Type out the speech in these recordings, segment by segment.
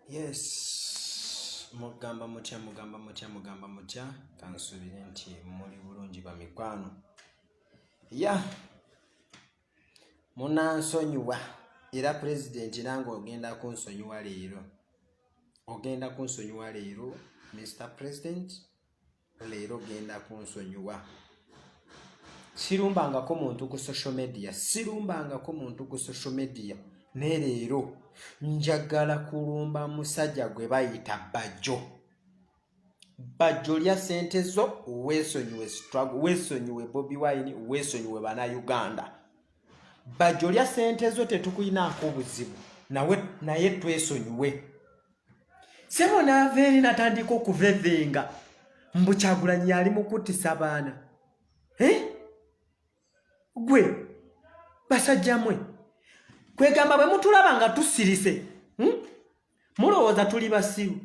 yes mugamba mutya mugamba mutya mugamba mutya kansuubire nti muli bulungi bamikwano ya munansonyiwa era pulezidenti nange ogenda kunsonyiwa leero ogenda kunsonyiwa leero mr president leero genda kunsonyiwa sirumbangako muntu ku social media sirumbangako muntu ku social media naye leero njagala kulumba musajja gwe bayita bajjo bajjo lya sente zo weesonyiwe struggle weesonyiwe bobi wine weesonyiwe bana uganda bajjo lya sente zo tetukulinaako obuzibu nawe naye twesonyiwe sebo naava eri natandika okuvevenga mbu kyagulanyi yali mukuttisa baana eh? gwe basajja mwe kwegamba bwe mutulaba nga tusirise hmm? mulowooza tuli basiru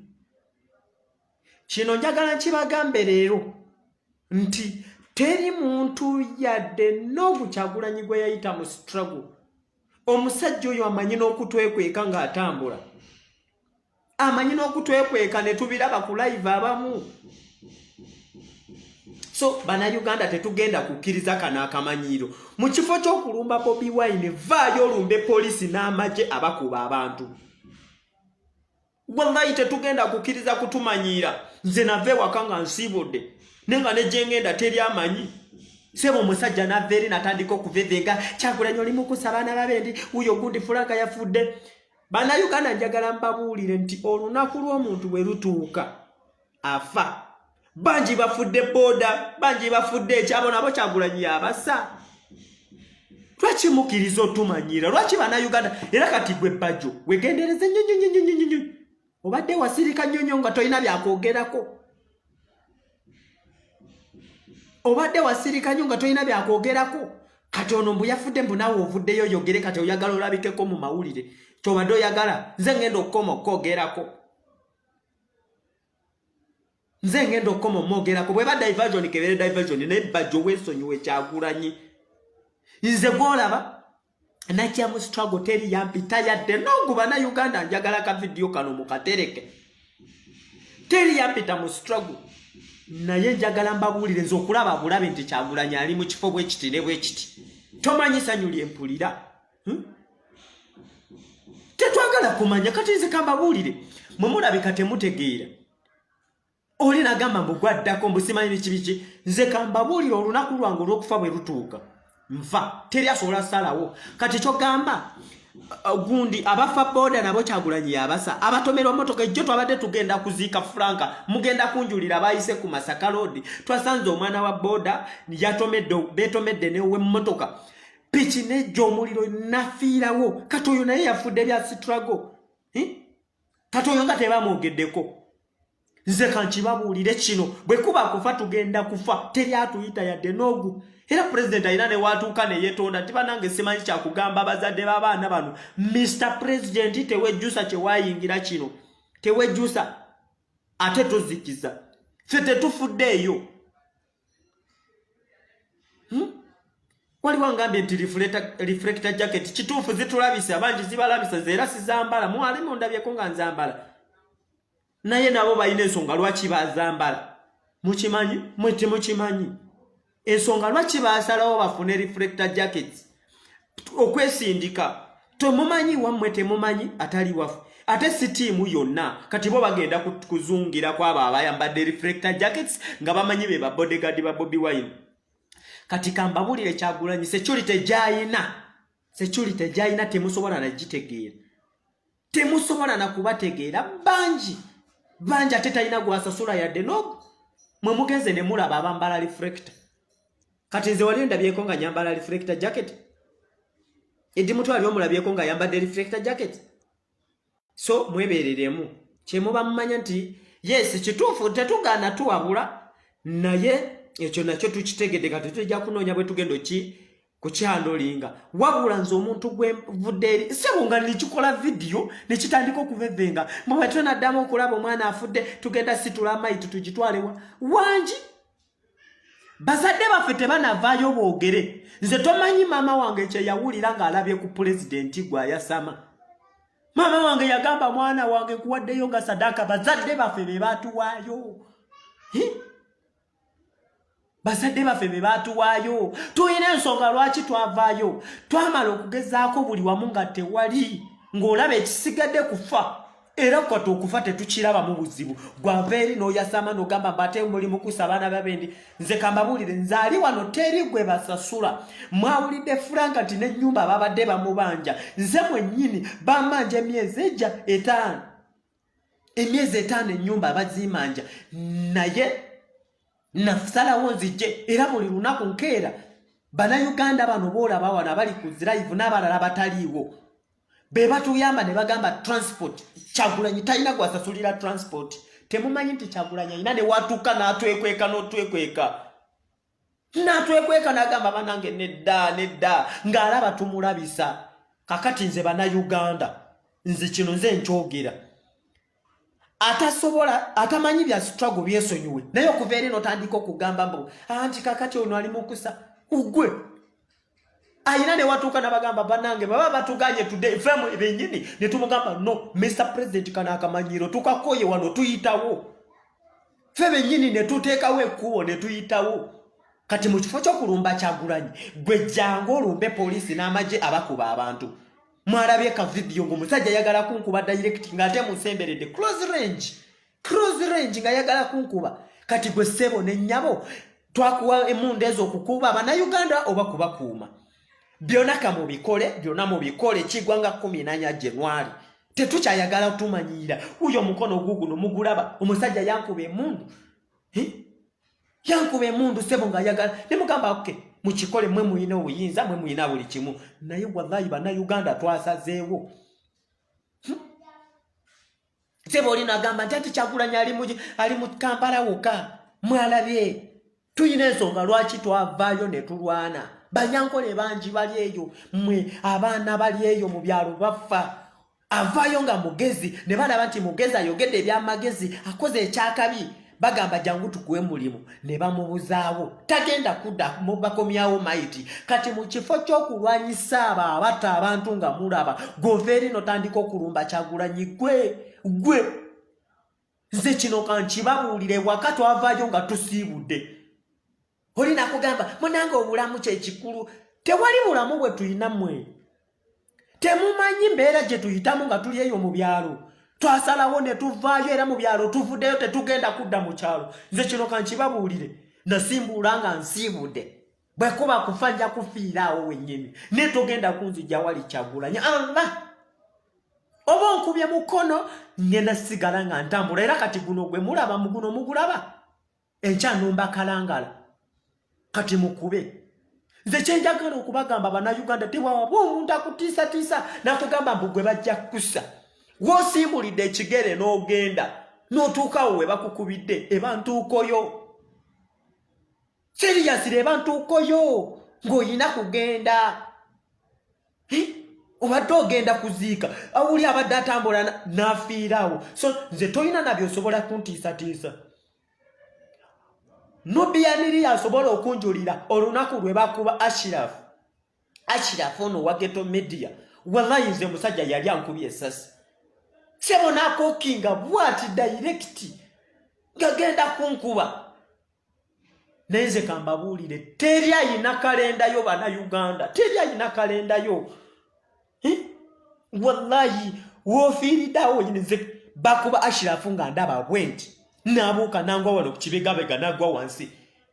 kino njagala nkibagambe leero nti teri muntu yadde noogu kyagulanyi gwe yayita mu struggle omusajja oyo amanyi n'okutwekweka ng'atambula amanyi n'okutwekweka ne tubiraba ku live abamu so banauganda tetugenda kukkiriza kano akamanyiiro mu kifo ky'okulumba bobi wine vaayo olumbe poliisi n'amagye abakuba abantu wallahi tetugenda kukkiriza kutumanyiira nze nava ewaka nga nsiibudde naye nga negyengenda teri amanyi sebo omusajja nava eri natandika okuvevenga kyagulanyi oli mukusa abaana babendi wuyo ogundi fulanka yafudde bannayuganda njagala mbabuulire nti olunaku lw'omuntu bwe lutuuka afa bangi bafudde booda bangi bafudde ekyabo nabo kyagulanyi yabasa lwaki mukiriza otumanyira lwaki banauganda era kati gwe bajjo wegendereze nyonyonyonyonyonyo obadde wasirika nyonyo nga tolina byakwogerako obadde wasirika nyo nga tolina byakwogerako kati ono mbu yafudde mbu nawe ovuddeyo oyogere kati oyagala olabikeko mu mawulire kyobadde oyagala nze ngenda okukoma okukwogerako nze ngenda okukoma omwogerako bweba diversion kebere diversion naye bajjo wesonyiwe kyagulanyi nze gwolaba najja mu struggle teri yampita yadde noguba na uganda njagala ka vidiyo kano mukatereke teri yampita mu struggle naye njagala mbabuulire nze okulaba bulabe nti kyagulanyi ali mu kifo bwekiti ne bwekiti tomanyi sanyu lyempulira hmm? tetwagala kumanya kati nze kambabuulire mwe mulabika temutegeera oli nagamba mbu gwaddako mbusimanyi bikibiki nze kambabuulire olunaku lwange olwokufa bwe lutuuka nva teri asobola salawo kati kyogamba uh, gundi abafa boda nabo kyagulanyi yabasa abatomerwa motoka ejjo twabadde tugenda kuziika franka mugenda kunjulira bayise ku masaka loodi twasanze omwana wa boda yatomedde betomedde newemotoka piki nejja omuliro nafiirawo kati oyo naye yafudde bya sitrago hm? kati oyo nga tebamwogeddeko nze kankibabuulire kino bwe kuba kufa tugenda kufa teri atuyita yadde n'ogu era pulezidenti alina newaatuuka neyetonda nti banange simanyi kyakugamba abazadde b'abaana bano mr pulezidenti tewejjusa kyewayingira kino tewejjusa ate tozikiza ffe tetufudde eyo hmm? waliwo angambye nti reflector jacket kituufu zitulabisa abangi zibalabisa era sizambala mwali mundabyeko nga nzambala naye nabo balina ensonga lwaki bazambala mukimanyi mwe temukimanyi ensonga lwaki basalawo bafune reflector jackets okwesindika temumanyi wammwe temumanyi atali wafu ate si tiimu yonna kati bo bagenda kuzungira ku abo abayambadde reflector jackets nga bamanyi be ba bodyguard ba bobi wine kati kambabulire kyagulanyi security gyayina security gyayina temusobola nagitegeera temusobola na kubategeera bangi bangi ate talina gwasasula yadde nob mwe mugenze ne mulaba abambala reflector kati nze wali ndabyeko nga nyambala reflector jacket edi mutwe ali omulabyeko nga yambadde reflector jacket so mwebereremu kyemuba mumanya nti yes kituufu tetugaana tuwabula naye ekyo nakyo tukitegedde nga tetujja kunoonya bwe tugenda ki kukyandolinga wabula nze omuntu gwenvudde eri sebo nga nekikola vidiyo nekitandika okuvevenga mubwetwe naddamu okulaba omwana afudde tugenda situla amaiti tugitwalewa wangi bazadde baffe tebanavaayo boogere nze tomanyi maama wange kyeyawulira ng'alabye ku pulezidenti gwe ayasama maama wange yagamba mwana wange kuwaddeyo nga sadaaka bazadde baffe be baatuwaayo bazadde baffe be baatuwaayo tulina ensonga lwaki twavaayo twamala okugezaako buli wamu nga tewali ng'olaba ekisigadde kufa era kwata okufa tetukiraba mu buzibu gwava eri n'oyasama n'ogamba mbate muli mukusa abaana babendi nze kambabuulire nzaali wano teri gwe basasula mwawulidde furanka nti n'ennyumba babadde bamubanja nze mwennyini bamanja emyezi ejja etaano emyezi etaano ennyumba abazimanja naye nasalawo nzijje era buli lunaku nkeera banauganda bano boolaba wano abali ku zirayivu n'abalala abataliiwo be batuyamba ne bagamba transport kyagulanyi talina gwasasulira transport temumanyi nti kyagulanyi alina newatuuka n'atwekweka n'otwekweka natwekweka nagamba banange nedda nedda ng'alaba tumulabisa kakati nze banauganda nze kino nze nkyogera atasobola atamanyi bya struggle byesonyiwe naye okuva eri notandika okugamba mbu anti kakati ono ali mukusa ugwe ayina ne watuuka nabagamba banange baba batuganye today femu ebenyini ne tumugamba no Mr President kana akamanyiro tukakoye wano tuyitawo fe benyini ne tuteekawo ekkubo ne tuyitawo kati mu kifo ky'okulumba kyagulanyi gwe jangu olumbe poliisi n'amagye abakuba abantu mwalabye ka vidiyo ng'omusajja yagala kunkuba direct ng'ate musemberedde close range cross range nga yagala kunkuba kati gwe sebo ne nyabo twakuwa emunde ezo okukuba bana Uganda oba kubakuuma byona kamu bikole byona mu bikole kigwa nga 14 January tetukyayagala tumanyira uyo mukono gugu no mugulaba omusajja yankuba emundu eh? yankuba emundu sebo nga yagala ne mugamba oke okay. mukikole mwe muyina obuyinza mwe muyina buli kimu naye wallahi bana Uganda twasazeewo sebo oli nagamba nti ati kyagulanyi ali mu kampala woka mwalabye tulina ensonga lwaki twavaayo ne tulwana banyankole bangi bali eyo mwe abaana bali eyo mu byalo baffa avaayo nga mugezi ne balaba nti mugezi ayogedde ebyamagezi akoze ekyakabi bagamba jangu tukuwe mulimu ne bamubuzaawo tagenda kudda bakomyawo maiti kati mu kifo ky'okulwanyisa abo abatta abantu nga mulaba gova eri notandika okulumba kyagulanyi gwe gwe nze kino kankibabuulire waka twavaayo nga tusiibudde oli nakugamba munange obulamu kyekikulu tewali bulamu bwe tulina mwe temumanyi mbeera gye tuyitamu nga tuli eyo mu byalo twasalawo ne tuvaayo era mu byalo tuvuddeyo tetugenda kudda mu kyalo nze kino kankibabuulire nasimbuula nga nsiibudde bwe kuba kufa nja kufiira awo wennyini naye togenda kunzija wali kyagulanya allah oba onkubye mukono ngenda sigala nga ntambula era kati guno gwe mulaba muguno mugulaba enkya numba kalangala kati mukube nze kyenjagala okubagamba banauganda tewawaba omuntu akutiisatiisa nakugamba mbu gwe bajja kukusa wosimbulidde ekigere n'ogenda n'otuukawo we bakukubidde eba ntuukoyo siriyasire eba ntuukoyo ng'olina kugenda obadde ogenda kuziika awuli abadde atambula n'afiirawo so nze tolina nabyo osobola kuntiisatiisa nubiyaniri asobola okunjulira olunaku lwe bakuba ashirafu ashirafu ono wageto media wallayi nze musajja yali ankubye esasi sebo nakokinga bwati dayirekiti ngagenda kunkuba naye nze kambabuulire teri ayina kalendayo bana uganda teri ayina kalendayo eh? wallahi wofiiridawo nze bakuba ashirafu nga ndaba bwenti nabuuka nangwa wano kukibegabega nagwa wansi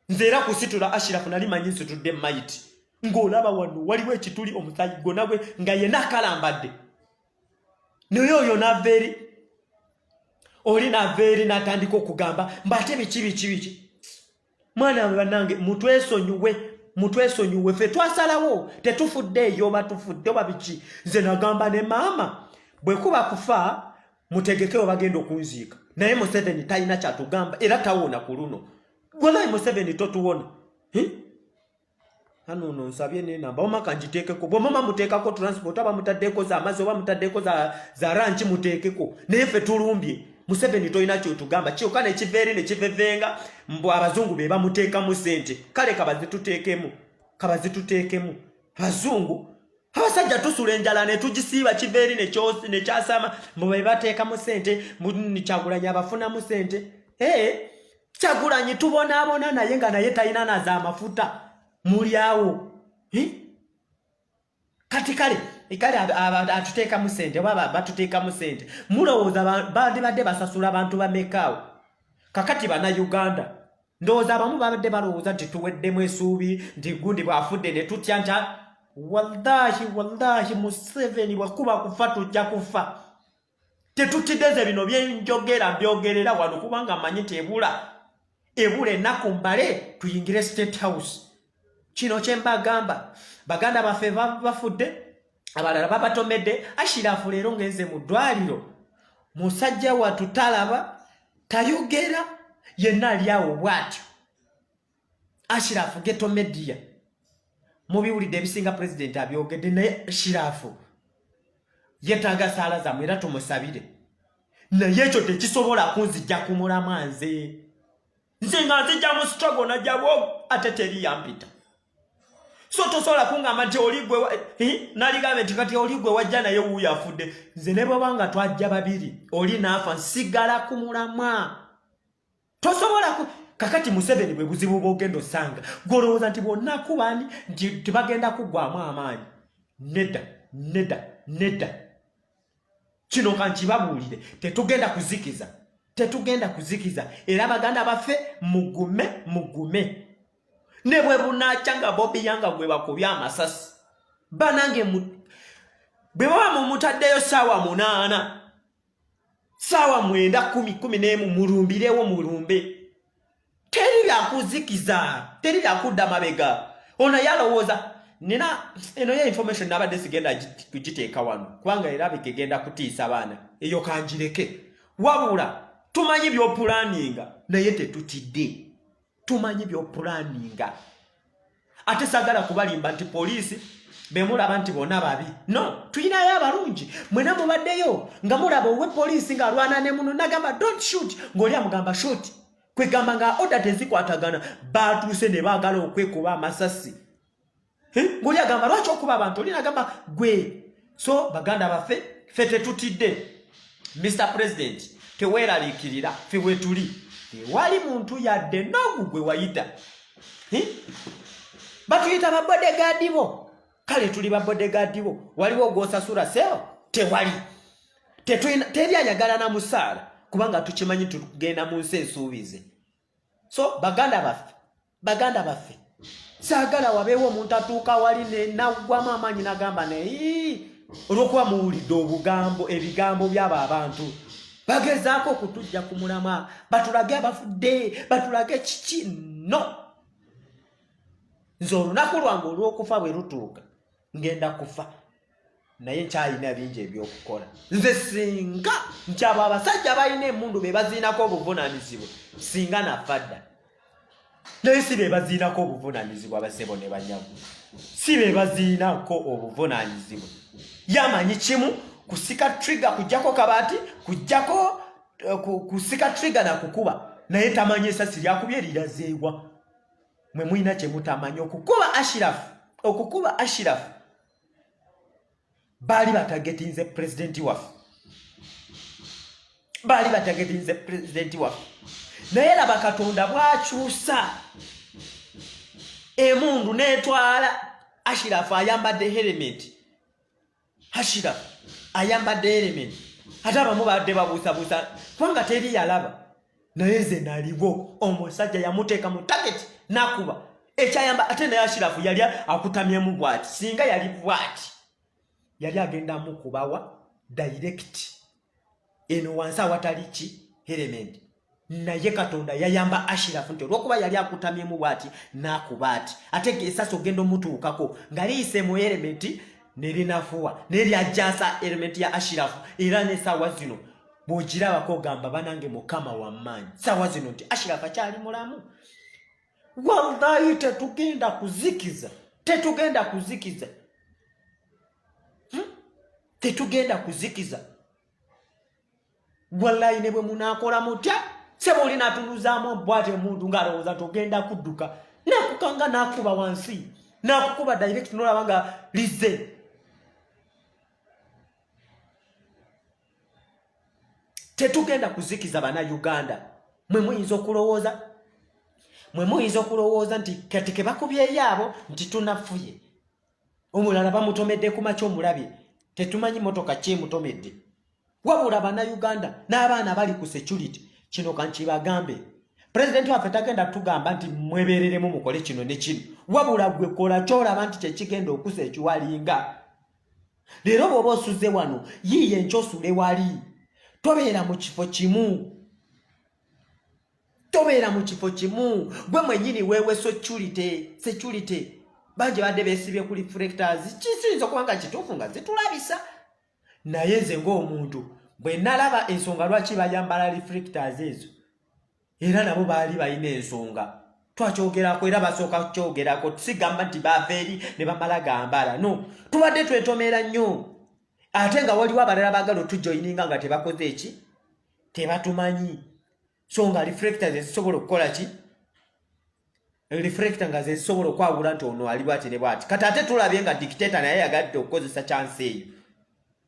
nze era kusitula ashirafu nali manyi nsitudde mayiti ng'olaba wano waliwo ekituli omusayi gwonagwe nga yena akalambadde naye oyo nava eri oli nava eri natandika okugamba mba ate biki biki biki mwana we banange mutwesonyiwe mutwesonyiwe fe twasalawo tetufudde eyo oba tufudde oba biki nze nagamba ne maama bwekuba kufa mutegekewo bagenda okunziika naye museveni talina kyatugamba era tawona ku luno gwolayi museveni totuwona hano ono nsabye nenamba wama kanjiteekeko bwemama muteekako transport aba mutaddeeko za amazzi oba mutaddeeko za, za ranki muteekeko naye ffe tulumbye museveni tolina kyotugamba kyoka nekiva eri nekivevenga mbu abazungu be bamuteekamu sente kale kabazituteekemu kabazituteekemu abazungu abasajja tusula enjala netugisiiba kiva eri nekyasama mbu bebateekamu sente kyagulanyi abafunamu sente ee hey. kyagulanyi tubonaabona naye nga naye talina na za mafuta mulyawo kati kale kale atuteekamu sente oba batuteekamu sente mulowooza bandibadde basasula abantu bamekaawo kakati bana uganda ndowooza abamu babadde balowooza nti tuweddemu esuubi nti gundi bwafudde ne tutya nti wallahi wallahi museveni bwakuba kufa tujja kufa tetukiddeze bino byenjogera mbyogerera wano kubanga amanyi tebula ebula ennaku mbale tuyingire state house kino kyembagamba baganda baffe bafudde abalala babatomedde ashirafu leero ngenze mu ddwaliro musajja watu talaba tayogera yenna alyawo bwatyo ashirafu geto media mubiwulidde ebisinga president abyogedde naye ashirafu yetaaga saala zamwe era tumusabire naye ekyo tekisobola kunzijja ku mulamwa nze nze nga nzijja mu struggle najjabwo ate teri yampita so tosobola kungamba nti oli gwe eh, naligambe nti kati oli gwe wajja naye wuuyo afudde nze ne bwebanga twajja babiri oli naafa nsigala ku mulamwa tosobola ku kakati museveni bwe buzibu bwogenda osanga gwolowooza nti bwonna kubani nti tebagenda kuggwamu amaanyi nedda nedda nedda kino kankibabuulire tetugenda kuzikiza tetugenda kuzikiza era baganda baffe mugume mugume ne bwe bunakya nga bobi yanga gwe bakubye amasasi banange bwe baba mumutaddeyo saawa munaana saawa mwenda kumi kumi n'emu mulumbirewo mulumbe teri lyakuzikiza teri lyakudda mabega ono yalowooza nina eno ye information nabadde sigenda kugiteeka wano kubanga era bikegenda kutiisa baana eyo kanjireke wabula tumanyi byopulaninga naye tetutidde tumanyi byopulaninga ate sagala kubalimba nti poliisi bemulaba nti bona babi no tuyinayo abalungi mwena mubaddeyo nga mulaba owe poliisi nga alwana ne muno nagamba don't shoot ngaoli amugamba shoot kwegamba nga oda tezikwatagana batuuse ne baagala okwekuba amasasi ngoli agamba lwaki okuba abantu oli nagamba gwe so baganda baffe fe tetutidde mr president teweeraliikirira fe wetuli tewali muntu yadde nogu gwe wayita batuyita babodegaadi bo kale tuli babodegaadi bo waliwo ogwosasula seo tewali teri ayagala na musaala kubanga tukimanyi tugenda mu nsi ensuubize so baganda baffe baganda baffe saagala wabeewo omuntu atuuka wali nenaggwamu amaanyi nagamba naye olwokuba muwulidde obugambo ebigambo byabo abantu bagezaako okutujja ku mulama batulage abafudde batulage kiki no nze olunaku lwange olw'okufa bwe lutuuka ngenda kufa naye nkyalina bingi ebyokukola nze singa nti abo abasajja balina emundu bebaziinako obuvunanyizibwa singa nafa dda naye si bebaziinako obuvunanyizibwa basebo ne banyagu si bebaziinako obuvunanyizibwa yamanyi kimu kusika trigger kujjako kabati kujjako eh, kusika trigger nakukuba naye tamanyi esasi lyakubye lirazeewa mwe mulina kye mutamanyi okukuba ashirafu okukuba ashirafu baali batagetinze pulezidenti waffe baali batagetinze pulezidenti waffe naye laba katonda bwakyusa emundu netwala ashirafu ayambadde helementi hashira ayambadde element ate abamu badde babuusabuusa kubanga teri yalaba naye nze naliwo omusajja yamuteeka mu tageti nakuba ekyayamba ate naye ashirafu yali akutamyemu bwati singa yali bwati yali agenda mukubawa direct eno wansi awatali ki herementi naye katonda yayamba ashirafu nti olwokuba yali akutamyemu bwati nakuba ati ate esasi ogenda omutuukako nga liyise mu elementi nerinafuwa neryajasa elementi ya ashirafu era nesaawa zino bwogirabako ogamba banange mukama wamaanyi saawa zino nti ashirafu akyali mulamu wallahi tetugenda kuzikiza tetugenda kuzikiza tetugenda kuzikiza wallayi ne bwe munaakola mutya seba oli natunuzaamu obwati omuntu ng'alowooza nti ogenda kudduka nakukanga nakuba wansi nakukuba direct nolaba nga lize tetugenda kuzikiza bana uganda mwe muyinza okulowooza mwe muyinza okulowooza nti kati kebakubyeyo abo nti tunafuye omulala bamutomedde ku makya omulabye tetumanyi motoka kyemutomedde wabula banauganda n'abaana bali ku security kino kankibagambe pulezidenti waffe tagenda tugamba nti mwebereremu mukole kino ne kino wabula gwe kola kyolaba nti kyekigenda okusa ekiwalinga leero bwoba osuze wano yiiye nkyosule wali tobeera mu kifo kimu tobeera mu kifo kimu gwe mwenyini wewe security security bangi badde besibye ku reflectors kiyinza okuba nga kituufu nga zitulabisa naye nze ng'omuntu bwe nalaba ensonga lwaki bayambala reflectors ezo era nabo baali balina ensonga twakyogerako era basooka kukyogerako sigamba nti baava eri ne bamala gambala no tubadde twetomera nnyo ate nga waliwo abalala bagala otujoyininga nga tebakoze eki tebatumanyi so nga reflector zezisobola okukola ki reflector nga zezisobola okwawula nti ono ali bwati ne bwati kati ate tulabye nga dictator naye yagadde okukozesa chance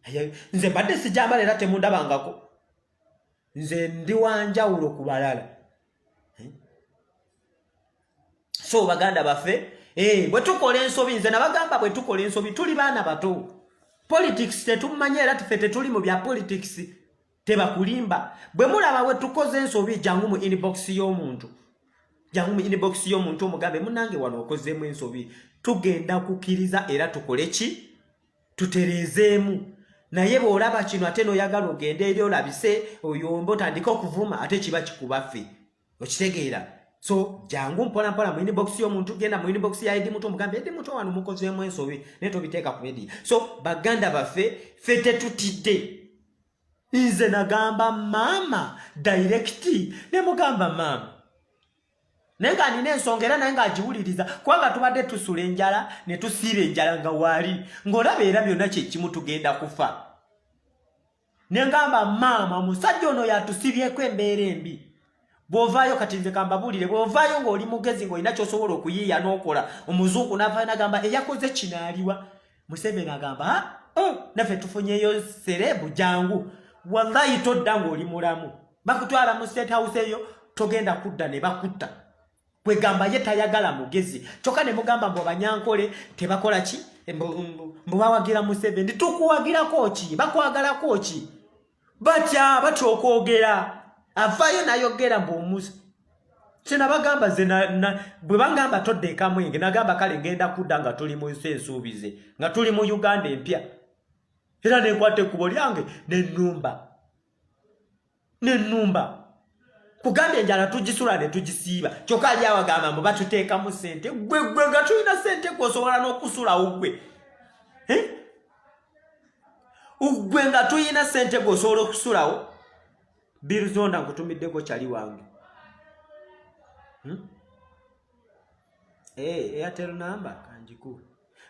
eyo nze mbadde sijambala era temundabangako nze ndi wanjawulo ku balala eh? so baganda baffe eh, bwe tukola ensobi nze nabagamba bwe tukola ensobi tuli baana bato politics tetumanyi era tufe tetuli mu bya politics tebakulimba bwe mulaba we tukoze ensobi jangu mu inbox y'omuntu jangu mu inbox y'omuntu omugambe munange wano okozeemu ensobi tugenda kukiriza era tukole ki tutereezeemu naye bw'olaba kino ate n'oyagala ogende eri olabise oyomba otandike okuvuma ate kiba kikubaffe okitegeera so jangu mpola mpola mu inbox y'omuntu genda mu inbox ya edi muto mugambe edi muto wano mukozeemu ensobi naye tobiteeka ku edi so baganda baffe fe tetutidde nze nagamba maama dayirekiti ne mugamba maama naye nga nina ensonga era naye ng'agiwuliriza kubanga tubadde tusula enjala ne tusiira enjala nga waali ng'olaba era byonna kyekimu tugenda kufa ne ngamba maama omusajja ono yatusibyeko embeera embi bw'ovaayo kati nze kambabuulire bw'ovaayo ng'oli mugezi ng'olina ky'osobola okuyiiya n'okola omuzungu n'avaayo n'agamba eyakoze kinaaliwa museveni agamba ha oh, naffe tufunyeyo serebu jangu wallayi todda ng'oli mulamu bakutwala mu state house eyo togenda kudda ne bakutta kwegamba ye tayagala mugezi kyoka ne mugamba mbu abanyankole tebakola ki mbu bawagira museveni tukuwagirako ki bakwagalako ki batya batya okwogera avayo nayogera mbu omuzi kyenabagamba ze bwe bangamba todda ekamwenge nagamba kale ngenda kudda nga tuli mu nsi ensuubize nga tuli mu uganda empya era nenkwata ekkubo lyange nenumba nenumba kugamba enjala tugisula ne tugisiiba kyokka ali awagamba mbu batuteekamu sente gwe gwe nga tulina sente gwe osobola n'okusulawo gwe gwe nga tulina sente gwe osobola okusulawo birizonda nkutumiddeko kyali wange hmm? eh, airtel number kanjikuwe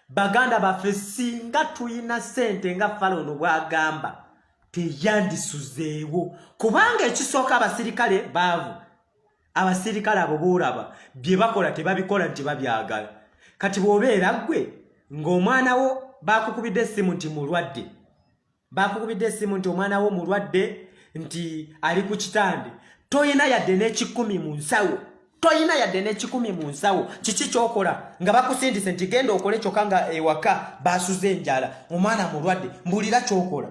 baganda baffe singa tulina sente nga falono bwagamba teyandisuzeewo kubanga ekisooka abasirikale baavu abasirikale abo boolaba bye bakola tebabikola nti babyagala kati bw'obeera ggwe ng'omwana wo baakukubidde essimu nti mulwadde bakukubidde essimu nti omwana wo mulwadde nti ali ku kitande toyina yadde n'ekikumi mu nsawo toyina yadde n'ekikumi mu nsawo kiki kyokola nga bakusindise nti genda okole kyokka nga ewaka basuze enjala omwana mulwadde mbulira kyokola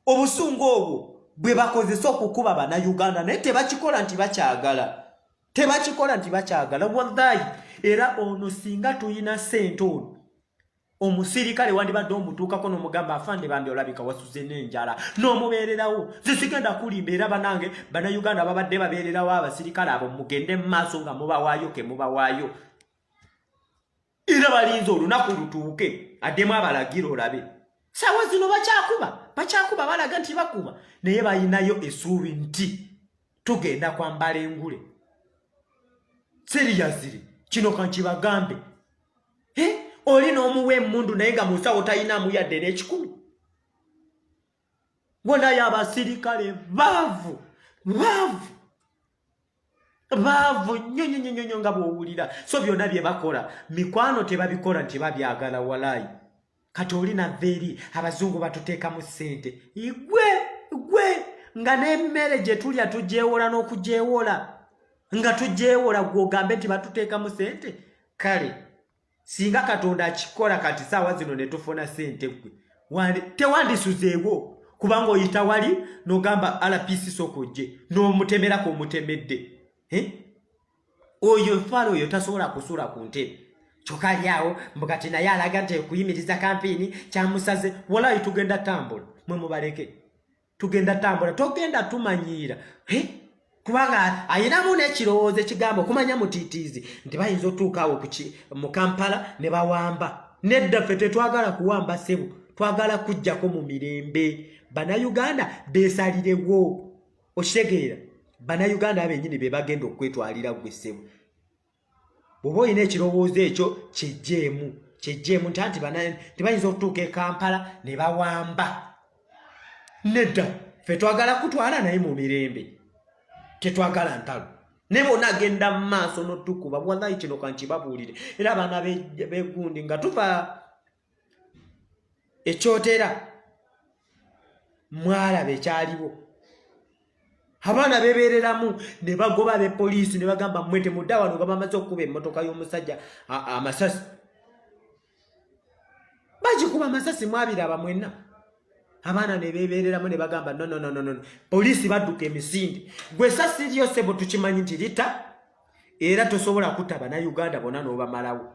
obusungu obwo bwe bakozesa okukuba bannayuganda naye tebakikola nti bakyagala tebakikola nti bakyagala wallayi era ono singa tulina sente ono omusirikale wandibadde omutuukako nomugamba afande bambi olabika wasuze nenjala nomubeererawo zisigenda kulimba era banange banauganda babadde babeererawo abasirikale abo mugende mumaaso nga mubawaayo kemubawaayo era balinze olunaku lutuuke addemu abalagira olabe sawa zino bakyakuba bakyakuba balaga nti bakuba naye balinayo esuubi nti tugenda kwambala engule seriyazire kino kankibagambe oli n'omuwa emundu naye nga munsawo talinaamu yadde n'ekikumi bonayo abasirikale baavu baavu baavu nyo nyo nyo nyo nga bwowulira so byonna bye bakola mikwano tebabikola nti babyagala walaayi kati oli nava eri abazungu batuteekamu ssente igwe gwe nga n'emmere gye tulya tugyewola n'okugyewola nga tugyewola gwe ogambe nti batuteekamu ssente kale singa katonda akikola kati saawa zino ne tufuna ssente gwe tewandisuzeewo kubanga oyita wali n'ogamba rpc sooka ojje n'omutemerako omutemedde eh? oyo nfaalo oyo tasobola kusula ku ntebe kyokka ali awo mbu kati naye alaga nti ekuyimiriza kampiini kyamusaze walayi tugenda tambula mwe mubaleke tugenda tambula togenda tumanyiira kubanga ayinamu n'ekirowoozo ekigambo okumanya mutiitiizi nti bayinza otuuka awo mu kampala ne bawamba nedda ffe tetwagala kuwamba ssebo twagala kujjako mu mirembe bannayuganda beesalirewo okitegeera bannayuganda abenyini be bagenda okwetwalira gwe ssebo bwoba olina ekirowoozo ekyo kyejjeemu kyejjeemu nti anti tebayinza okutuuka e kampala ne bawamba nedda fe twagala kutwala naye mu mirembe tetwagala ntalo naye bona agenda mu maaso notukuba wallahi kino kankibabuulire era abaana begundi nga tuva e Kyotera mwalaba ekyaliwo abaana bebeereramu ne bagoba be poliisi ne bagamba mmwe temudda wano nga bamaze okukuba emmotoka y'omusajja amasasi bagikuba amasasi mwabiraba mwenna abaana ne bebeereramu ne bagamba nonononono poliisi badduka emisinde gwe sasi lyo sebo tukimanyi nti lita era tosobola kuta banauganda bona n'obamalawo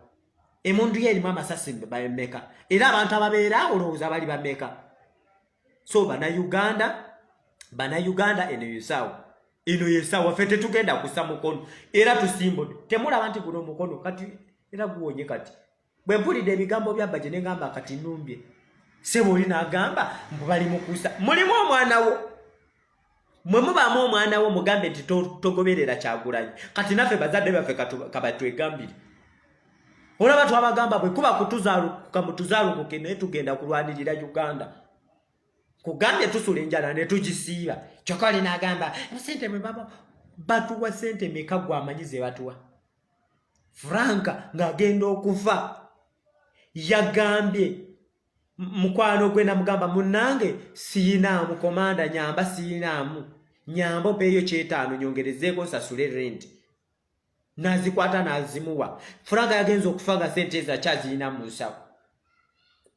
emundu ye erimu amasasi bameka era abantu ababeera olowooza bali bameka so banauganda banauganda eno yesaawo eno yesaawa fe tetugenda kusa mukono era tusimbode temulaba nti guno mukono kati era guwonye kati bwe mpulidde ebigambo bya baje ne ngamba kati numbye sebo oli n'agamba mbu bali mukusa mulimu omwana wo mwe mubaamu omwana wo mugambe nti togoberera kyagulanyi kati naffe bazadde baffe kabatwegambire olaba twabagamba bwe kuba kutuzalukuka mutuzalukuke naye tugenda kulwanirira uganda kugambye tusula enjala ne tugisiiba kyokka oli n'agamba sente mwe baba batuwa sente meka gwamanyi ze batuwa franka ng'agenda okufa yagambye mukwano gwe namugamba munange siyinaamu komanda nyamba siyinaamu nyamba opeeyo kyetaano nyongerezeeko nsasule rent nazikwata nazimuwa furaga yagenza okufa nga sente ezo akyaziyina mu nsawo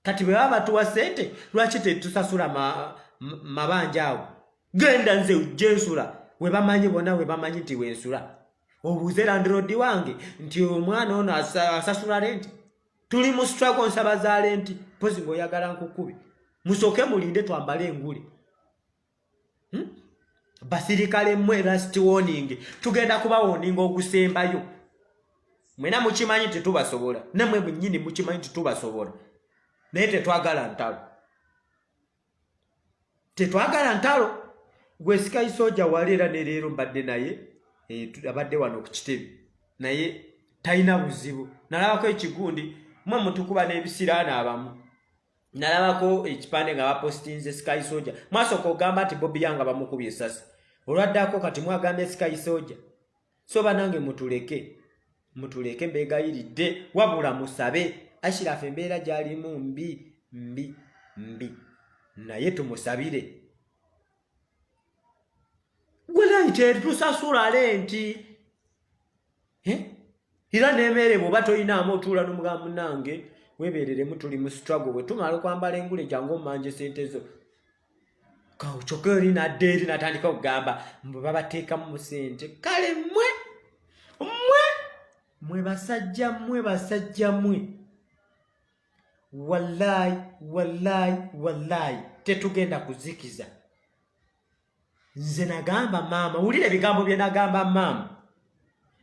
kati bwe baba batuwa sente lwaki tetusasula mabanja awo genda nze jensula webamanyi bona webamanyi nti wensula obuuze landirodi wange nti omwana ono asasula renti tuli mu struggle nsaba zaale nti mpozi ngaoyagala nkukubi musooke mulinde twambale engule hmm? basirikale mmwe last warning tugenda kuba woninga ogusembayo mwena mukimanyi nti tubasobola namwe mwenyini mukimanyi nti tubasobola naye tetwagala ntalo tetwagala ntalo gwe sikayi soja wali era ne leero mbadde naye eh, abadde wano ku kitebe naye talina buzibu nalabako ekigundi mwe mutukuba n'ebisiraani abamu nalabako ekipande nga bapostinze sikayi soja mwasooka ogamba nti bobi yanga bamukubye esasi olwaddako kati mwagambye sikayi soja so banange mutuleke mutuleke mbegayiridde wabula musabe ashirafu embeera gyalimu mbi mbi mbi naye tumusabire walayi tetusasula lenti eh? era nemeere bwoba toyinaamu otuula nomugamba munange webereremu tuli mu struggle wetumala okwambala engule jangu omanje sente zo kyokka oli nadda eri natandika okugamba mbu babateekamu sente kale mwe mwe mwe basajja mwe basajja mwe wallayi wallayi wallayi tetugenda kuzikiza nze nagamba maama wulira ebigambo bye nagamba maama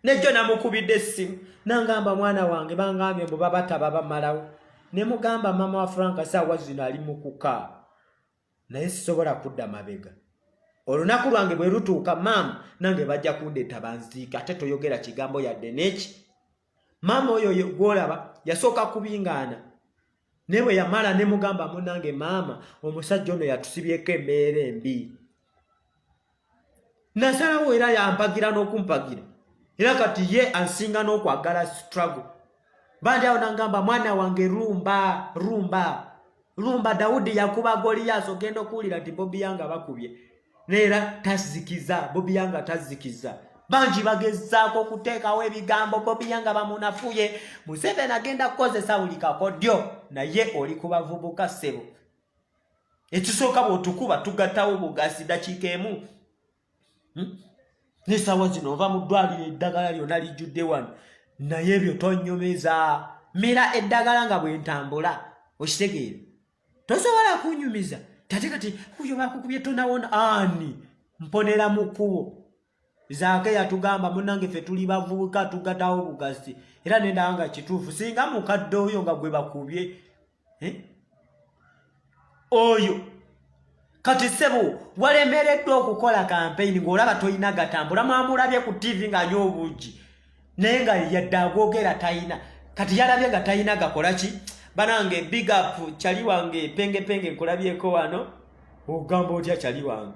nejjo namukubidde essimu nangamba mwana wange bangambye mbu babataba bamalawo ne mugamba mama wa franka saawa zino ali mu kukaa naye sisobola kudda mabega olunaku lwange bwe lutuuka maama nange bajja kundeeta banziika ate toyogera kigambo yadde neki maama oyo gwolaba yasooka kubingaana naye bwe yamala ne mugamba munange maama omusajja ono yatusibyeko embeera embi nasalawo era yampagira n'okumpagira era kati ye ansinga n'okwagala struggle bandi awo nangamba mwana wange rumba rumba lumba dawudi yakuba goliyaasi ogenda okuwulira nti bobi yanga bakubye neera tazikiza bobi yanga tazikiza bangi bagezaako okuteekawo ebigambo bobi yanga bamunafuye museveni agenda kukozesa buli kakodyo naye oli ku bavubuka ssebo ekisooka bwotukuba tugatawo bugazi dakiika emu hmm? nesawa zino ova mu ddwaliro eddagala lyona lijjudde wano naye ebyo tonyumeza mira eddagala nga bwentambula okitegeera tosobola kunyumiza tate kati kuyo bakukubye tonawona ani mponera mu kkubo zaake yatugamba munange fe tuli bavubuka tugatawo bugasi era nendawa nga kituufu singa mukadde oyo nga gwe bakubye eh? oyo kati sebo walemereddwa okukola kampeyini ng'olaba tolina gatambula mwamulabye ku tivi ng'anywa obuugi naye nga yadde agwogera talina kati yalabye nga talina gakola ki banange big up kyali wange pengepenge nkulabyeko wano ogamba otya kyali wange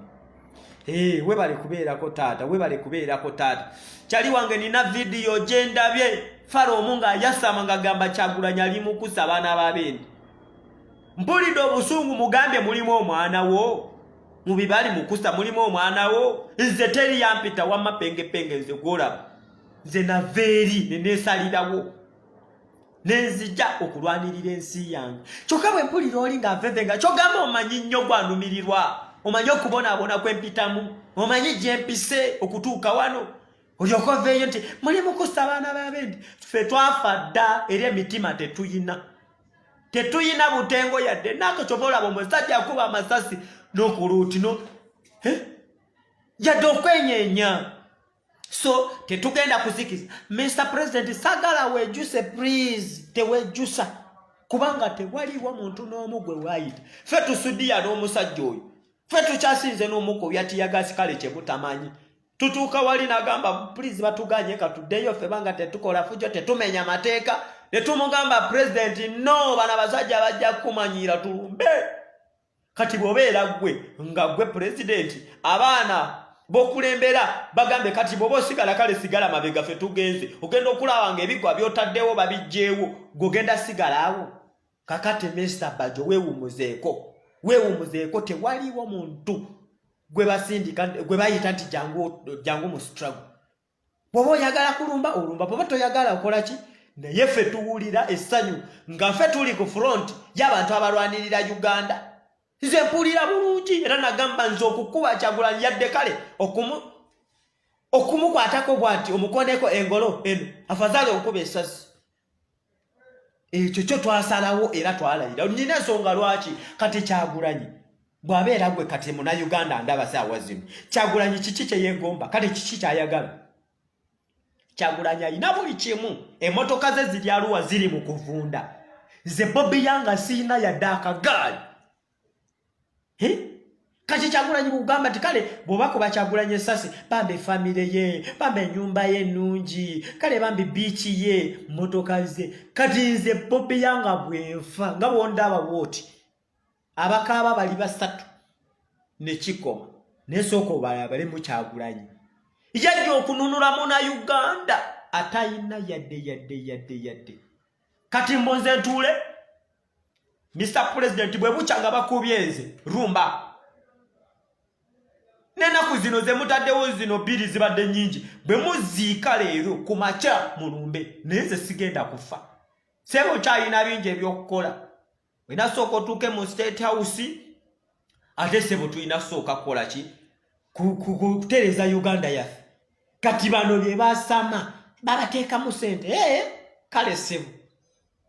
hey, eh, webale kubeerako taata webale kubeerako taata kyali wange nina vidiyo gyendabye fala omu ng'ayasama ng'agamba kyagulanyi ali mukusa abaana babendi mpulidde obusungu mugambye mulimu omwana wo mu bibali mukusa mulimu omwana wo nze teri yampita wamma pengepenge nze gwolaba nze nava eri neneesalirawo nenzija okulwanirira ensi yange kyokka bwe mpulira oli nga nfefe nga kyogamba omanyi nnyo gwanumirirwa omanyi okubonaabona kwempitamu omanyi gyempise okutuuka wano olyoka oveeyo nti muli mukusa abaana babendi fe twafa dda era emitima tetuyina tetuyina butengo yadde nako kyova olaba omusajja akuba amasasi nokuluutino yadde okwenyenya so tetugenda kuzikiza mr president sagala wejuse please tewejusa kubanga tewaliwo muntu n'omu gwe wayita fe tusudiya n'omusajja oyo fe tukyasinze n'omuko byatiyagasi kale kyemutamanyi tutuuka wali nagamba please batuganye katuddeyo fe banga tetukola fujo tetumenya mateeka netumugamba president no bana basajja bajja kukumanyiira tulumbe kati bwobeera gwe nga gwe pulezidenti abaana bokulembera bagambe kati bwoba osigala kale sigala mabega fe tugenze ogenda okulaba nga ebigwa byotaddewo babijjeewo gogenda sigalawo kakati mista bajo wewumuzeeko wewumuzeeko tewaliwo muntu gwe basindika gwe bayita nti jangu mu strago bwoba oyagala kulumba olumba bwoba toyagala okola ki naye ffe tuwulira essanyu nga ffe tuli ku front y'abantu abalwanirira uganda nze mpulira bulungi era nagamba nze okukuba kyagulanyi yadde kale okumukwatako bwati omukoneko engolo eno afazaali okukuba esasi ekyo kyo twasalawo era twalayira nina ensonga lwaki kati kyagulanyi bwabeera gwe kati muna uganda ndaba saawa zino kyagulanyi kiki kyeyegomba kale kiki kyayagala kyagulanyi alina buli kimu emotoka ze ziri aluwa ziri mu kuvunda nze bobi yanga siina yadde akagaali kati kyagulanyi bugamba ti kale bwoba kuba kyagulanyi esasi bambi efamire ye bambi enyumba ye nungi kale bambi biiki ye motoka ze kati nze bobi yanga bwenfa nga bwonda abawooti abakaaba bali basatu nekikoma nesooka obalabale mukyagulanyi yajja okununulamu na uganda atayina yadde yadde yadde yadde kati mbunze ntuule Mr. President bwe bukya nga bakubye nze rumba nenaku zino zemutaddewo zino bbiri zibadde nyingi bwe muziika leero ku makya mulumbe naye nze sigenda kufa sebe okyalina bingi ebyokukola olina sooka otuuke mu state house ate sebo tulina sooka kukola ki kutereeza uganda yaffe kati bano bye basama babateekamu sente ee kale sebo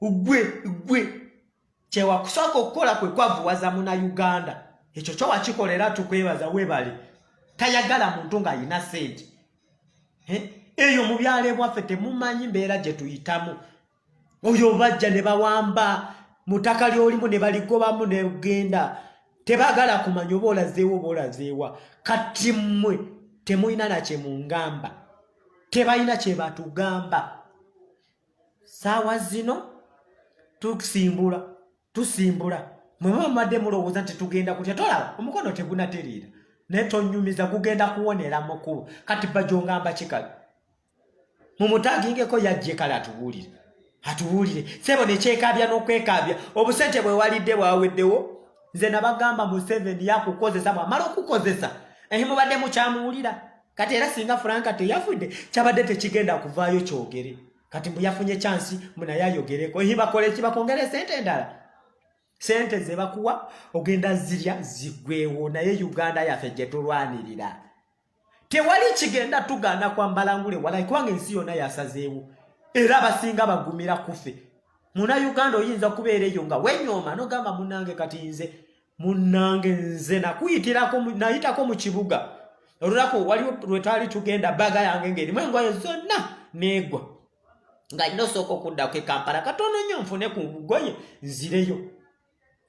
ugwe ugwe kyewakusooka okukola kwe kwavuwaza muna uganda ekyo kyo wakikola era tukwebaza webale tayagala muntu ng'alina sente eyo mu byalo ebwaffe temumanyi mbeera gye tuyitamu oyo bajja ne bawamba mu ttaka ly'olimu ne baligobamu negenda tebagala kumanya oba olazeewo oba olazeewa kati mmwe temulina nakye mungamba tebalina kye batugamba saawa zino tusimbula tusimbula mwe muba mumadde mulowooza nti tugenda kutya tolaba omukono tegunatereera naye tonyumiza gugenda kuwonera mukubo kati bajongamba kikala mumutagingeko yajje kale atubuulire atubuulire sebo nekyekabya nokwekabya obusente bwewalidde bwaweddewo nze nabagamba museveni yakukozesa bwamala okukozesa ehi mubadde mukyamuwulira kati era singa franka teyafudde kyabadde tekigenda kuvaayo kyogere kati mbu yafunye kyansi munaye ayogereko ibakole kibakongere sente endala sente zebakuwa ogenda zirya zigwewo naye uganda yaffe gyetulwanirira tewali kigenda tugaana kwambala ngule walai kubanga ensi yonna yasazeewo era abasinga bagumira kufe muna uganda oyinza okubeera eyo nga wenyooma nogamba munange kati nze munnange nze nakuyitirako nayitako mu kibuga olunaku waliwo lwetwali tugenda baga yange ngaerimu engoye zonna neegwa nga nina osooka okuddako ekampala katono nyo nfune ku ngoye nzireyo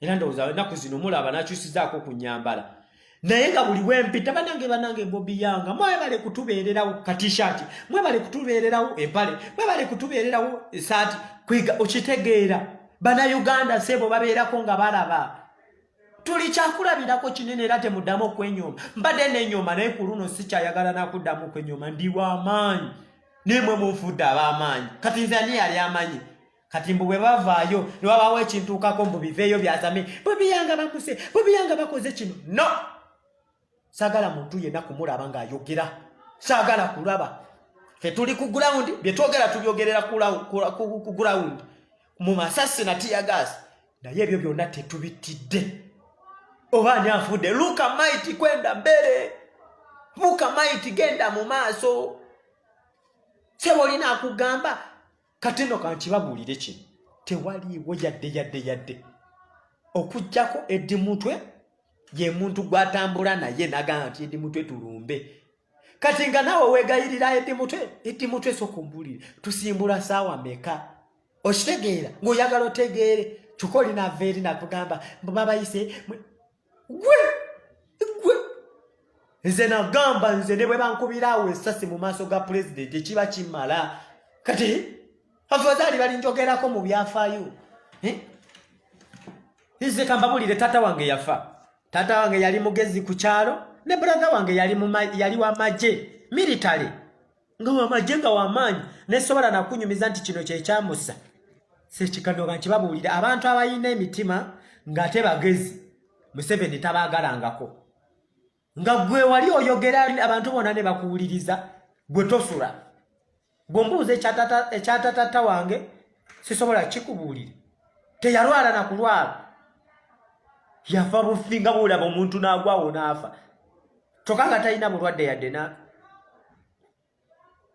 era ndowooza enaku zino mulaba nakyusizaako okunyambala naye nga buli wempita banange banange bobi yanga mwebale kutubeererawo katishati mwebale kutubeererawo empale mwebale kutubeererawo esaati kwiga okitegeera banauganda sebo babeerako nga balaba tuli kyakulabirako kinene era temuddamu okwenyooma mbadde nenyooma naye ku luno sikyayagala nakuddamu okwenyooma ndi wamaanyi naye mwe munfudde abamaanyi kati nze ani yali amanyi kati mbu bwe bavaayo ne babaawo ekintuukako mbu biveeyo byazame bwebiyanga bakuse bwebiyanga bakoze kino no sagala muntu yena kumulaba nga ayogera sagala kulaba fe tuli ku ground byetwogera tubyogerera ku ground mu masasi na tiya gas naye ebyo byonna tetubittidde oba ani afudde luka maiti kwenda mbere luka maiti genda mu maaso sebo olina akugamba kati no kankibabuulire kino tewaliiwo yadde yadde yadde okujjako eddi mutwe ye muntu gwatambula naye nagamba nti eddi mutwe tulumbe kati nga naawe weegayirira eddi mutwe eddi mutwe esooka ombuulire tusimbula saawa meka okitegeera ng'oyagala otegeere kyokka olinaava eri nakugamba mbu babayise gwe gwe nze nagamba nze ne bwe bankubira awo esasi mu maaso ga pulezidenti ekiba kimala kati afazaali balinjogerako mu byafaayo eh? nze kambabulire taata wange yafa taata wange yali mugezi ku kyalo ne brother wange yali wa magye military nga wamagye nga wamaanyi nesobola nakunyumiza nti kino kyekyamusa sekikanoga nti babuulira abantu abalina emitima ng'ate bagezi museveni tabaagalangako nga gwe wali oyogera abantu bona ne bakuwuliriza gwe tosula gwe mbuuza ekyatatata wange sisobola kikubuulira teyalwala nakulwala yafa bufi nga bwolaba omuntu n'agwawo n'afa kyokka nga talina bulwadde yadde na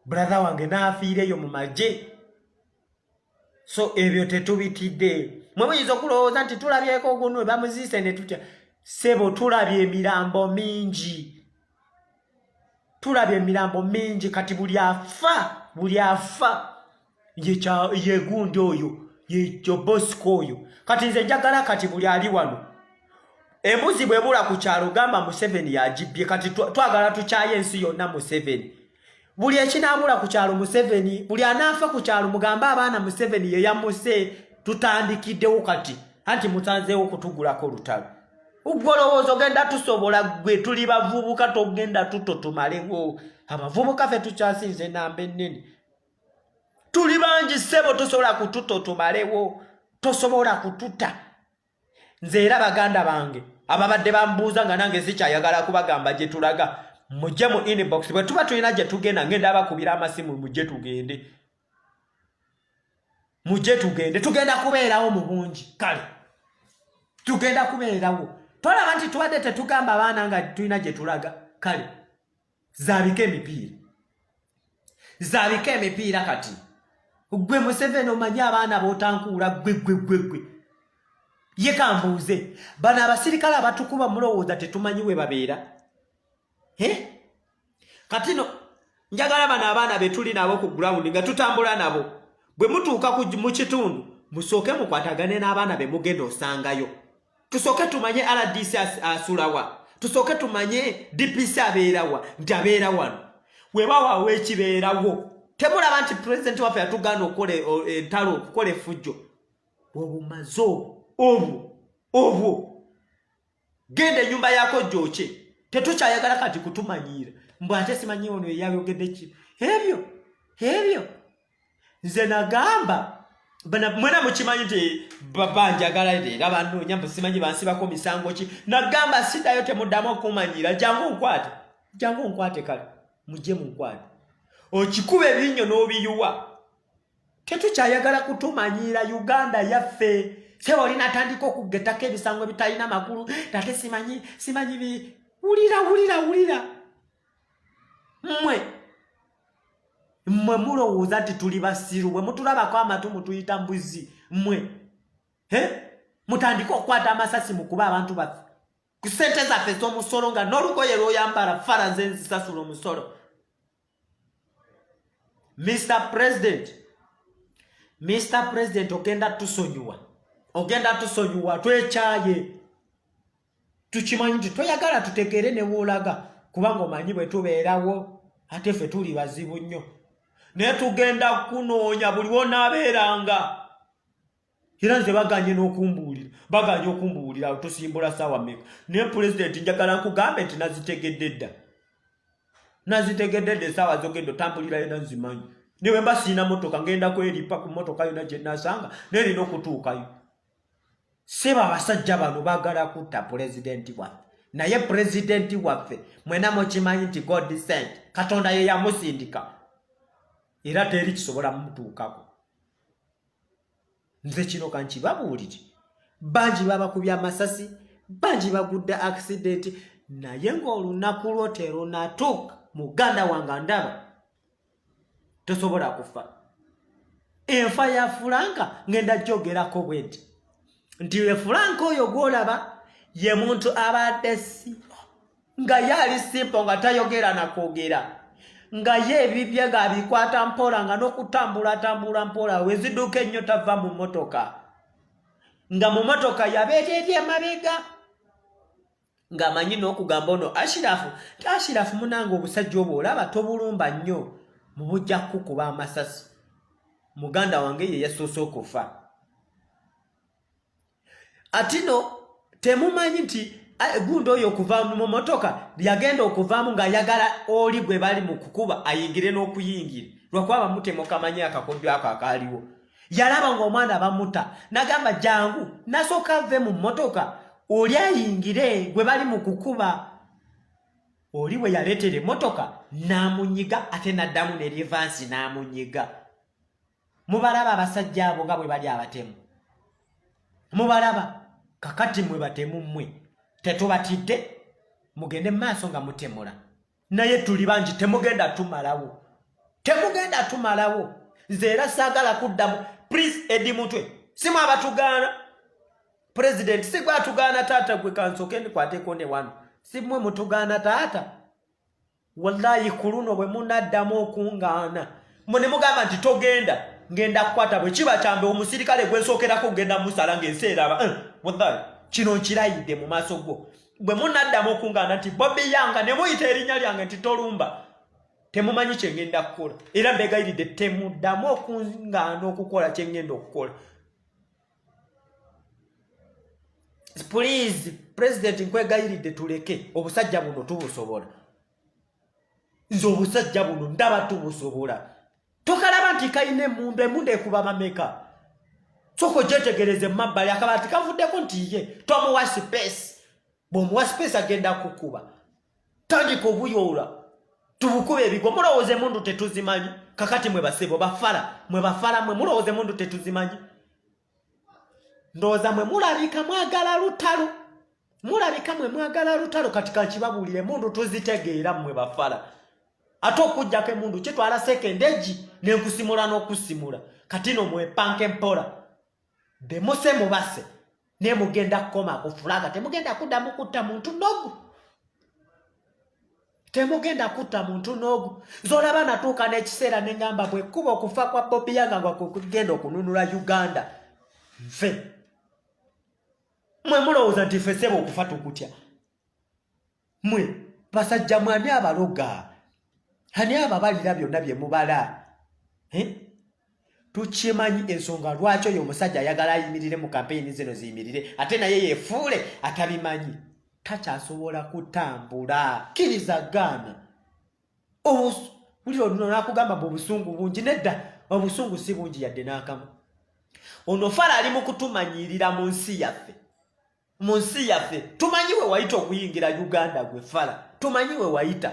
brother wange n'afiireyo mu magye so ebyo tetubitidde mwe muyinza okulowooza nti tulabyeko ogunu bamuziise ne tutya sebo tulabye emirambo mingi tulabye emirambo mingi kati buli afa buli afa yegundi oyo yejobosika oyo kati nze njagala kati buli ali wano embuzi bwebula ku kyalo gamba museveni yagibbye kati twagala tukyaye ensi yonna museveni buli ekinabula ku kyalo museveni buli anaafa ku kyalo mugambe abaana museveni yeyamuse tutandikiddewo kati anti musanzeewo okutugulako olutalo ugwolowooza ogenda tusobola gwe tuli bavubuka togenda tuto tumalewo abavubuka fe tukyasinze enamba ennene tuli bangi ssebo tosobola kututa otumalewo tosobola kututa nze era baganda bange ababadde bambuuza nga nange sikyayagala kubagamba gye tulaga mujje mu inbox bwe tuba tulina gye tugenda ngenda abakubira amasimu mujje tugende mujje tugende tugenda kubeerawo mu bungi kale tugenda kubeerawo tolaba nti tubadde tetugamba abaana nga tulina gye tulaga kale zaabika emipiira zaabika emipiira kati gwe museveni omanyi abaana botankuula gwe gwe gwe gwe ye kambuuze bano abasirikale abatukuba mulowooza tetumanyi we babeera kati no njagala bano abaana betuli nabo ku grawundi nga tutambula nabo bwe mutuuka mu kitundu musooke mukwatagane n'abaana be mugenda osangayo tusooke tumanye rdc asulawa tusooke tumanye dpc abeerawa nti abeera wano webawaawo ekibeerawo temulaba nti pulezidenti waffe yatugaana okukola e, entalo okukola efujjo obumaze obwo obwo obwo genda enyumba yako gyokye tetukyayagala kati kutumanyiira mbw ate simanyi ono eyayogedde ki ebyo ebyo nze nagamba mwena mukimanyi nti banjagala era banoonya mbu simanyi bansibako misango ki nagamba sidayo temuddamu okumanyira jangu nkwate jangu nkwate kale mujje munkwate okikuba ebinnyo n'obiyuwa tetukyayagala kutumanyiira uganda yaffe seba oli natandika okugetako ebisango ebitalina makulu tate simanyi simanyi bi wulira wulira wulira mmwe mmwe mulowooza nti tuli basiru bwe mutulabako amatu mutuyita mbuzi mmwe e mutandike okukwata amasasi mu kuba abantu baffe ku ssente zaffe ez'omusolo nga n'olugoye lwoyambala fara nze nzisasula omusolo mr president mr president ogenda tusonyiwa ogenda tusonyiwa twekyaye tukimanyi nti toyagala tutegeere ne woolaga kubanga omanyi bwe tubeerawo ate ffe tuli bazibu nnyo naye tugenda kunoonya buli wonaabeeranga era nze baganye n'okumbuulira baganye okumbuulira tusimbula saawa meka naye pulezidenti njagala nkugambe nti nazitegedde dda nazitegedde dda esaawa zogenda otambulira yona nzimanyi niwe mba siina motoka ngenda kweripa ku motoka yona gye nasanga naye erina okutuukayo sebo abasajja bano bagala kutta pulezidenti waffe naye pulezidenti waffe mwena mukimanyi nti god sent katonda ye yamusindika era teri kisobola mutuukako nze kino kankibabuulire bangi babakubya amasasi bangi bagudde accidenti naye ng'olunaku lwo terunatuuka muganda wange ndaba tosobola kufa enfa ya fulanka ngenda jogerako bwedi nti e fulanka oyo gwolaba ye muntu abadde simpo nga ye ali simpo nga tayogera nakwogera nga ye ebibye nga abikwata mpola nga nokutambula atambula mpola weziduuka ennyo tava mu motoka nga mu motoka yabeereeri emabega ng'amanyi n'okugamba ono ashirafu ti ashirafu munange obusajja obwo olaba tobulumba nnyo mu bujja kukuba amasasi muganda wange ye yasoose okufa atino temumanyi nti gundi oyo okuva mu motoka yagenda okuvaamu ng'ayagala oli gwe bali mu kukuba ayingire n'okuyingira lwakuba bamutemukamanyi akakodyo ako akaaliwo yalaba ng'omwana bamuta nagamba jangu nasooka ave mu mmotoka oli ayingire gwe bali mu kukuba oli we yaleetera emmotoka n'amunyiga ate n'addamu neryevansi n'amunyiga mubalaba abasajja abo nga bwe bali abatemu mubalaba kakati mwe batemu mmwe tetubatidde mugende mu maaso nga mutemula naye tuli bangi temugenda tumalawo temugenda tumalawo nze era saagala kuddamu prince edi mutwe simu abatugaana pulezidenti sigwe atugaana taata gwe kansoke ndikwateko ne wano simwe mutugaana taata wallayi ku luno bwe munaddamu okungaana mwe ne mugamba nti togenda ngenda kukwata bwe kiba kyambe omusirikale gwensookerako kugenda musala ng'ensi eraba eh, wallayi kino nkirayidde mu maaso gwo bwe munaddamu okungaana nti bobi yanga ne muyita erinnya lyange nti tolumba temumanyi kye ngenda kukola era mbegayiridde temuddamu okungaana okukola kye ngenda okukola puliizi pulezidenti nkwegayiridde tuleke obusajja buno tubusobola nze obusajja buno ndaba tubusobola tokalaba nti kalina emundu emundu ekuba bameka soka ojetegereze mumabbali akaba ti kavuddeko nti ye tomuwa sipeesi bwomuwa sipeesi agenda kukuba tandika obuyoola tubukuba ebigwa mulowooza emundu tetuzimanyi kakati mwe basebo bafala mwe bafala mwe mulowooza emundu tetuzimanyi ndowooza mwe mulabika mwagala lutalo mulabika mwe mwagala lutalo kati kankibabuulire mundu tuzitegeera mmwe bafala ate okujjako emundu kitwala sekende egi nenkusimula n'okusimula kati no mwepanka empola bemuse mubase naye mugenda kukoma kufulaga temugenda kuddamu kutta muntu nogu temugenda kutta muntu n'ogu zolaba natuuka n'ekiseera ne ŋŋamba bwe kkuba okufa kwa bobi yanga nga kwekugenda okununula uganda nfe mwe mulowooza nti fe seba okufa tukutya mwe basajja mwe ani abaloga ani ababalira byonna bye mubala eh? tukimanyi ensonga lwaki oyo omusajja ayagala ayimirire mu kampeyini zino ziyimirire ate naye yefuule atabimanyi takyasobola kutambula kkiriza gaana wulira oluno nakugamba mbu obusungu bungi nedda obusungu si bungi yadde n'akamu ono fala ali mu kutumanyiirira mu nsi yaffe mu nsi yaffe tumanyi we wayita okuyingira uganda gwe fala tumanyi we wayita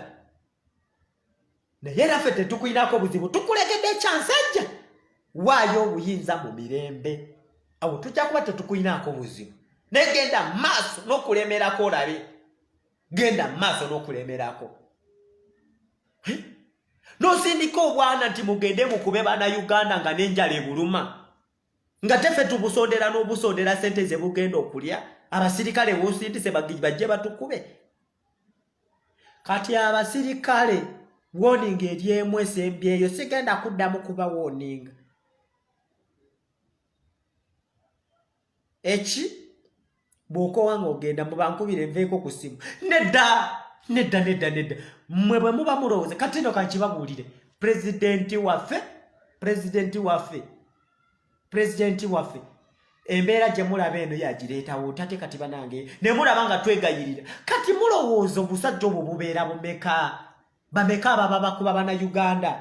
naye naffe tetukulinako buzibu tukulegedde ekyansajja waayo obuyinza mu mirembe awo tujja kuba tetukulinako buzibu naye genda maaso n'okulemerako olabe genda maaso n'okulemerako nosindika obwana nti mugende mukube bana uganda nga nenjala ebuluma nga tefe tubusondera n'obusondera sente ze bugenda okulya abasirikale wosindise bajje batukube kati abasirikale warning eri emu esembyeyo sigenda kuddamu kuba warning eki bw'okoowa ng'ogenda mu bankubire nveeko ku ssimu nedda nedda nedda nedda mmwe bwe muba mulowooza kati no kankibabuulire pulezidenti waffe pulezidenti waffe pulezidenti waffe embeera gye mulaba eno yagireetawo tate kati banange ne mulaba nga twegayirira kati mulowooza obusajja obwo bubeera bumeka bameka ababa bakuba bana uganda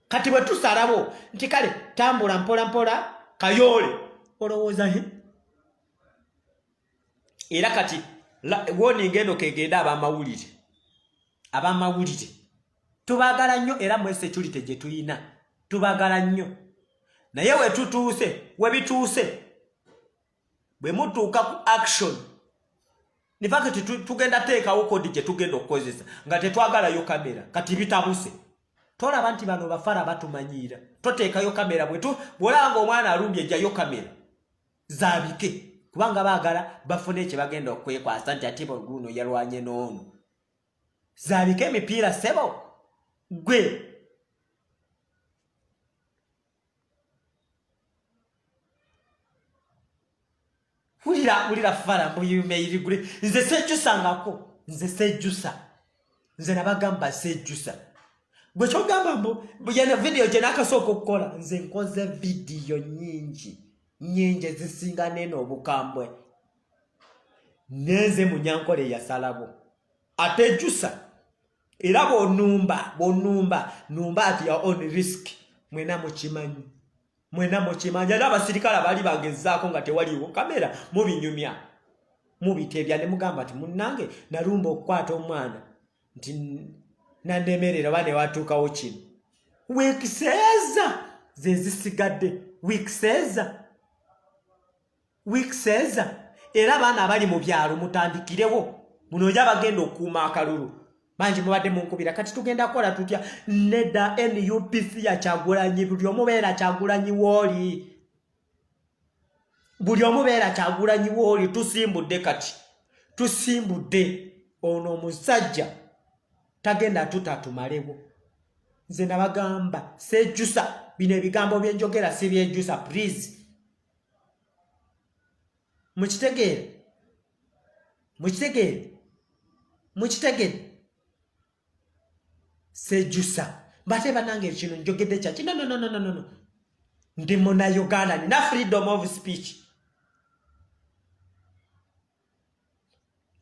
kati bwe tusalawo nti kale tambula mpola mpola kayoole olowooza he era kati woninga eno kegenda abamawulire abamawulire tubagala nnyo era mu security gye tulina tubagala nnyo naye wetutuuse webituuse bwe mutuuka ku action in fact tugenda teekawo kodi gye tugenda okukozesa nga tetwagalayo kamera kati bitabuse tolaba nti bano bafara batumanyiira toteekayo kamera bwetu bwolaba nga omwana alumbye ejjayo kamera zabike kubanga baagala bafune ekye bagenda okwekwasa nti ate baguuno yalwanye n'ono zabike emipiira sebo gwe wulira wulira fala muyumeyirigule nze sejjusangako nze sejjusa nze nabagamba sejjusa gwe kyogamba mbu yena vidiyo gye nakasooka okukola nze nkoze vidiyo nyingi nyingi ezisinga neena obukambwe nenze munyankola eyasalabo atejjusa era bwonumba bwonumba numba at your own risk mwena mukimanyi mwena mukimanyi era abasirikale bali bagezaako nga tewaliwo kamera mubinyumya mubitebya ne mugamba nti munnange nalumba okukwata omwana nti nanemerera oba newatuukawo kino wiikiseeza zezisigadde wiikiseeza weeks eza era abaana abali mu byalo mutandikirewo muno oja bagenda okuuma akalulu bangi mubadde munkubira kati tugenda kukola tutya neda nupc yakyagulanyi buli omubeera kyagulanyi wooli buli omubeera kyagulanyi wooli tusimbudde kati tusimbudde ono omusajja tagenda tutatumalewo nze nabagamba sejusa bino ebigambo byenjogera sibyejjusa please mukitegeere mukitegeere mukitegeere sejusa mbate banange ekino njogedde kyaki nononononono ndi muna uganda nina freedom of speech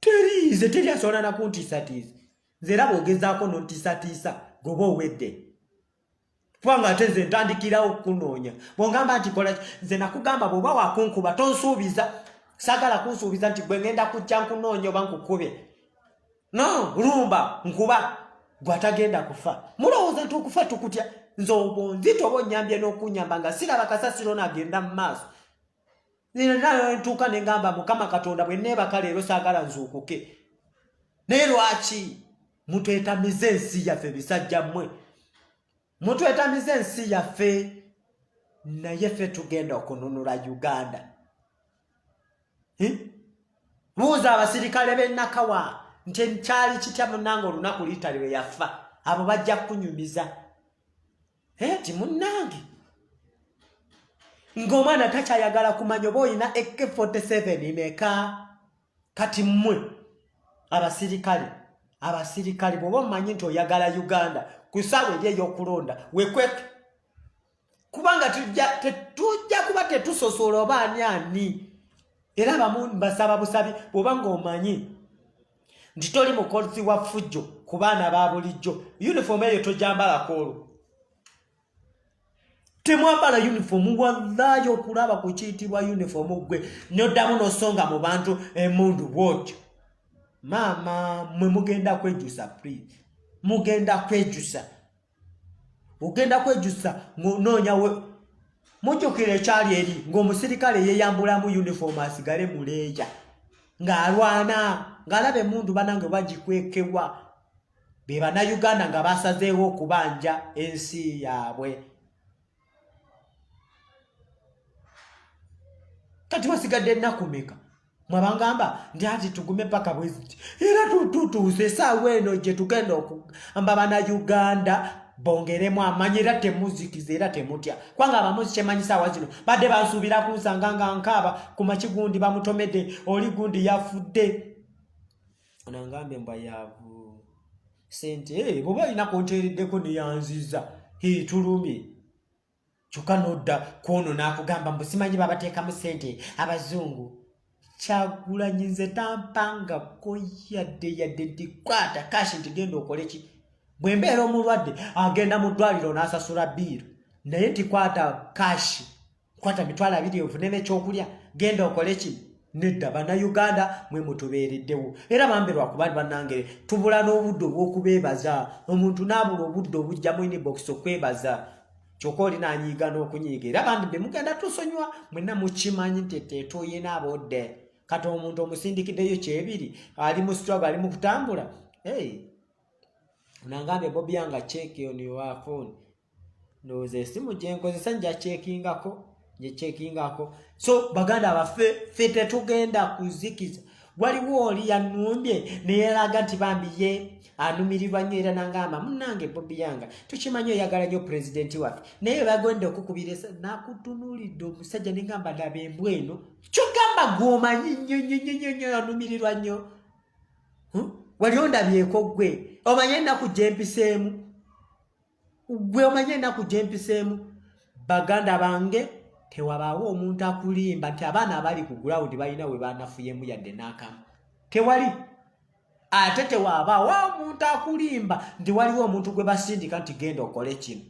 teriize teri asobola nakuntiisatiiza nze era bwogezaako nontiisatiisa goba owedde kubanga ate nze ntandikirawo okunoonya bwongamba nti kola nze nakugamba bwoba wakunkuba tonsuubiza sagala kunsuubiza nti gwe ngenda kujja nkunoonya oba nkukube no lumba nkuba gwatagenda kufa mulowooza nti okufa tukutya nze obwo nzita oba onyambye n'okunyamba nga siraba kasasiro nagenda mu maaso ntuuka ne ngamba mukama katonda bwe neebaka leero saagala nzuukuke naye lwaki mutwetamiza ensi yaffe bisajja mmwe mutwetamiza ensi yaffe naye ffe tugenda okununula uganda hm? buuza abasirikale b'enakawa nti kyali kitya munanga olunaku liitali lwe yafa abo bajja kukunyumiza eti munnange ng'omwana takyayagala kumanya oba olina ek 47 meka kati mmwe abasirikale abasirikale bwoba omanyi nti oyagala uganda ku saawa eri ey'okulonda wekweke kubanga tetujja kuba tetusosola oba ani ani era bamu mbasaba busabi bwoba ng'omanyi nti toli mukolzi wa ffujjo ku baana ba bulijjo yunifoomu eyo togyambalako olwo temwambala yunifoomu wallayi okulaba ku kiyitibwa yunifoomu ggwe noddamu nosonga mu bantu emundu bwotyo maama mwe mugenda kwejusa pri mugenda kwejusa ogenda kwejusa ngonoonya we mujjukira ekyali eri ng'omusirikale yeyambulamu uniform asigale muleeja ng'alwana ng'alaba emundu banange bagikwekewa be bannayuganda nga basazeewo okubanja ensi yaabwe kati wasigadde ennaku meka mwabangamba nti ati tugume paka bweziti era tututuuse esaawa eno gye tugenda okugamba bana uganda bongeremu amanyi era temuzikiza era temutya kubanga abamuzi kyemanyi saawa zino badde bansuubira kunsanga nga nkaaba ku makigundi bamutomedde oli gundi yafudde anangambe mbwa yavu sente hey, eh, bwoba olina kunteereddeko neyanziza hitulumye kyokka nodda kwono nakugamba mbu simanyi babateekamu sente abazungu kyagulanyi nze tampangako yadde yadde ndikwata kashi nti genda okoleki bwe mbeera omulwadde agenda mu ddwaliro n'asasula biiru naye ntikwata kashi kwata mitwalo abiri ovune nekyokulya genda okole kino nedda bannayuganda mwe mutubeereddewo era bambe lwakuba bannangere tubula n'obudde obw'okubeebaza omuntu n'abula obudde obujjamu inbox okwebaza kyokka oli nanyiiga n'okunyiiga era bandi be mugenda tusonyiwa mwena mukimanyi nti tetuyina budde kati omuntu omusindikiddeyo kyebiri ali mu strugg ali mu kutambula hey. unangambe bobi yanga cheki on your phone ndowooza esimu gyenkozesa njakyekingako njekyekingako so baganda baffe fe tetugenda kuzikiza waliwo oli yanumbye neyeraga nti bambi ye anumirirwa nnyo era nangamba munange bobi yanga tukimanyi oyagala nyo pulezidenti waffe naye bagenda okukubiresa nakutunuulidde omusajja nengamba ndaba embwa eno kyogamba gwomanyi nnyo nnyo nnyo nnyo nnyo anumirirwa nnyo hmm? wali ondabyeko ggwe omanye ennaku gyempiseemu gwe omanye enaku gyempiseemu baganda bange tewabaawo omuntu akulimba nti abaana abali ku gurawundi balina we banafuyemu yadde n'akamu tewali ate tewabaawo omuntu akulimba nti waliwo omuntu gwe basindika nti genda okole kino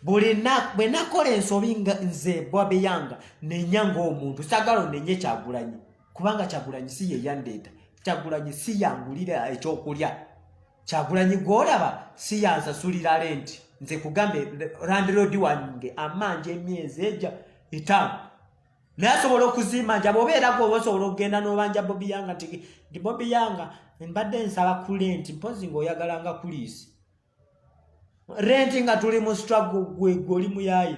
buli bwe nakola ensobi nga nze bwabeyanga nenya ng'omuntu sagala onenye kyagulanyi kubanga kyagulanyi si yeyandeeta kyagulanyi si yangulira ekyokulya kyagulanyi gwolaba siyansasulira lenti nze kugambe landlord wange amanja emyezi eja etaano naye asobola okuzimanja bwoba era gwoba osobola okugenda n'obanja bobi yanga ti ndi bobi yanga mbadde nsaba ku lenti mpozi ngaoyagalanga kuliisi renti nga tuli mu strago gwegwe oli muyayi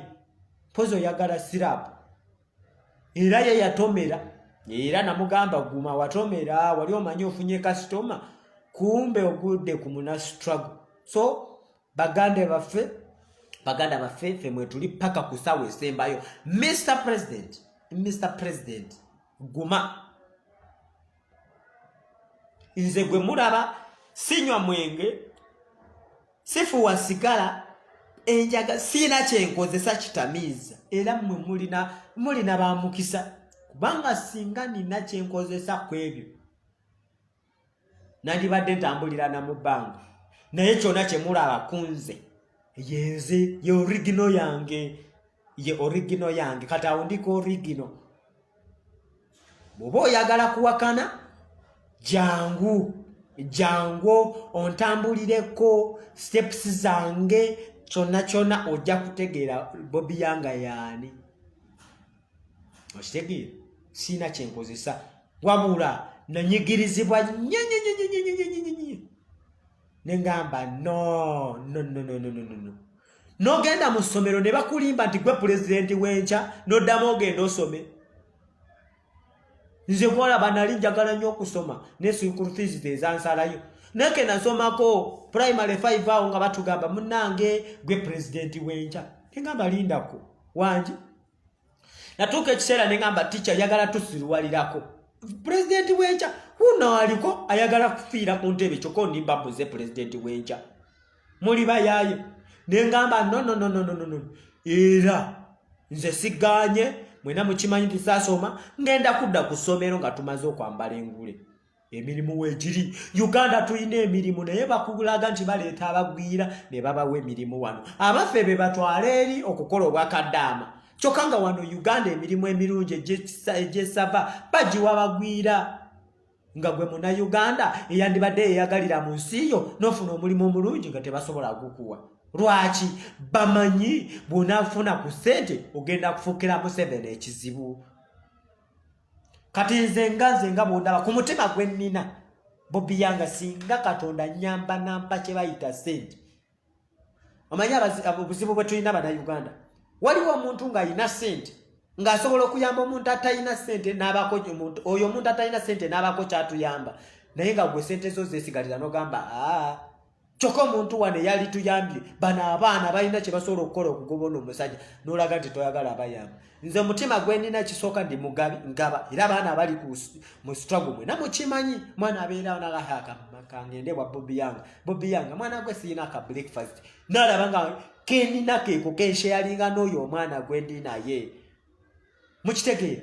mpozi oyagala sirapu era ye yatomera era namugamba guma watomera wali omanyi ofunye kasitoma kumbe ogudde ku muna struggle so baganda baffe baganda baffe ffe mwetuli paka ku sawa esembayo mr president mr president guma nze gwe mulaba sinywa mwenge sifuwa sigala enjaga siina kyenkozesa kitamiiza era mwe mulina mulina bamukisa kubanga singa nina kyenkozesa ku ebyo nandibadde ntambulira na mu bbanga naye kyona kyemulaba kunze yenze ye origino yange ye origino yange kati awo ndiko origino bwoba oyagala kuwakana jangu jangu ontambulireko steps zange kyonna kyonna ojja kutegeera bobi yanga yaani okitegeera siina kyenkozesa wabula nanyigirizibwa nyenyenyenyenyenyenyenyenye nengamba no no no no no no no nogenda mu ssomero ne bakulimba nti gwe pulezidenti w'enkya noddamu ogenda osome nze kwolaba nali njagala nnyo okusoma ne school fees ze ezansalayo naye ke nasomako primary five awo nga batugamba munange gwe pulezidenti w'enkya nengamba lindako wangi natuuka ekiseera ne ngamba ticca yagala tusiruwalirako pulezidenti w'enkya huno aliko ayagala kufiira ku ntebe kyokka ondimba mbuze pulezidenti w'enkya muli bayaaye ne ngamba nonononononono era nze sigaanye mwena mukimanyi nti saasoma ngenda kudda ku ssomero nga tumaze okwambala engule emirimu wegiri uganda tulina emirimu naye bakulaga nti baleeta abagwira ne babawa emirimu wano abaffe be batwala eri okukola obwakaddaama kyokka nga wano uganda emirimu emirungi egyesava bagiwa bagwira nga gwe muna uganda eyandibadde yeyagalira mu nsi yo nofuna omulimu omulungi nga tebasobola gukuwa lwaki bamanyi bwonafuna ku sente ogenda kufukira museveni ekizibu kati nze nga nze nga bwondaba ku mutima gwe nnina bobi yanga singa katonda nyamba nampa kye bayita sente omanyi obuzibu bwe tulina bana uganda waliwo omuntu ng'alina sente ng'asobola okuyamba omuntu atalina sente n'abako omuntu oyo omuntu atalina sente n'abako kyatuyamba naye nga gwe sente zo zesigalira nogamba aa ah, kyokka omuntu wano eyali tuyambye bano abaana balina kye basobola okukola okugoba ono omusajja n'olaga nti toyagala abayamba nze omutima gwe nina kisooka ndi mugabi ngaba era abaana abali mu struggle mwena mukimanyi mwana abeerawo nalahakangende bwa bobi yanga bobi yanga mwana gwe siyina ka breakfast nalaba nga kenina keeko kensheyalinga n'oyo omwana gwe ndi naye mukitegeera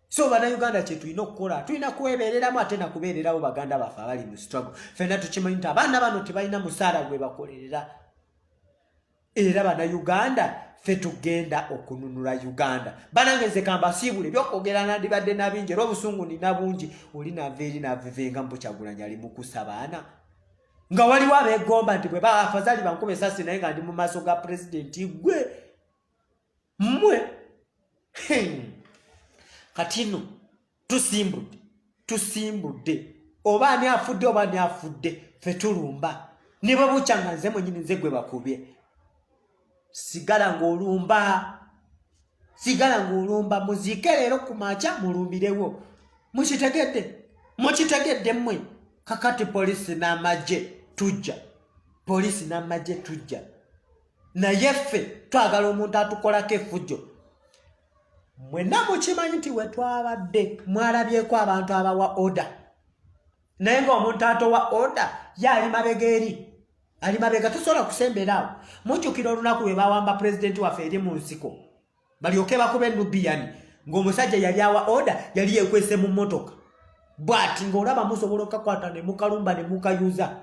so banauganda kyetulina okukola tulina kwebereramu ate nakubererawo baganda baffe abali mu struggle fena tukimanyi nti abaana bano tebalina musaala gwe bakolerera era banauganda fe tugenda okununula uganda banange nze kambasiibule ebyokwogera nandibadde nabingi era obusungu nina bungi oli nava eri navivenga mbukyagulanya ali mukusa baana nga waliwo abegomba nti bwe baafazali bankuba esasi naye nga ndi mu maaso ga pulezidenti gwe mmwe kati no tusimbudde tusimbudde oba ani afudde oba ani afudde fe tulumba ne bwe bukya nga nze mwenyini nze gwe bakubye sigala ng'olumba sigala ng'olumba muziike leero ku makya mulumbirewo mukitegedde mukitegedde mmwe kakati poliisi n'amagye tujja poliisi n'amagye tujja naye ffe twagala omuntu atukolako efujjo mwena mukimanyi nti wetwabadde mwalabyeko abantu abawa oda naye ngaomuntu atowa oda ye ali mabega eri ali mabega tusobola kusemberaawo mujjukira olunaku webawamba pulezidenti waffe eri mu nsiko balyoke bakuba enubiyani ng'omusajja yali awa oda yali yekwese mu mmotoka bwati ng'olaba musobola okakwata ne mukalumba ne mukayuza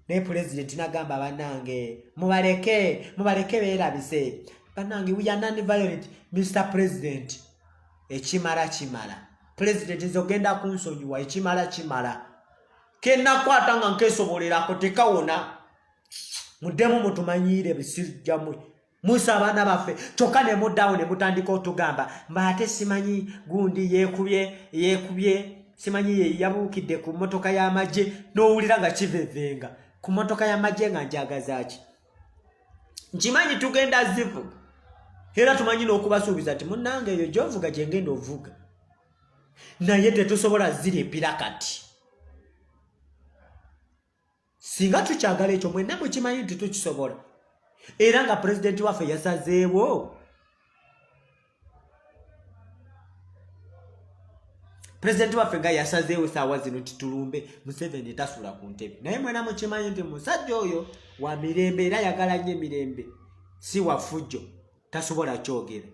naye pulezidenti nagamba banange mubaleke mubaleke beerabise banange wiyanani violet mr president ekimala kimala pulezidenti nze ogenda kunsonyiwa ekimala kimala kenakwata nga nkesobolerako tekawona muddemu mutumanyiire ebisirjamwe musa abaana baffe kyokka ne muddawo ne mutandika otugamba mba ate simanyi gundi yeekubye yeekubye simanyi ye yabuukidde ku mmotoka y'amagye n'owulira nga kivevenga ku mmotoka y'amagye nga njagazaaki nkimanyi tugenda zivuga era tumanyi n'okubasuubiza nti munnange eyo gyovuga gye ngenda ovuga naye tetusobola zirimpira kati singa tukyagala ekyo mwenna mukimanyi nti tukisobola era nga pulezidenti waffe yasazeewo pulezidenti waffe nga yasazeewo esaawa zino nti tulumbe museveni tasula ku ntebe naye mwena mukimanyi nti musajja oyo wa mirembe era yagala nnyo emirembe si wafujjo tasobola kyogera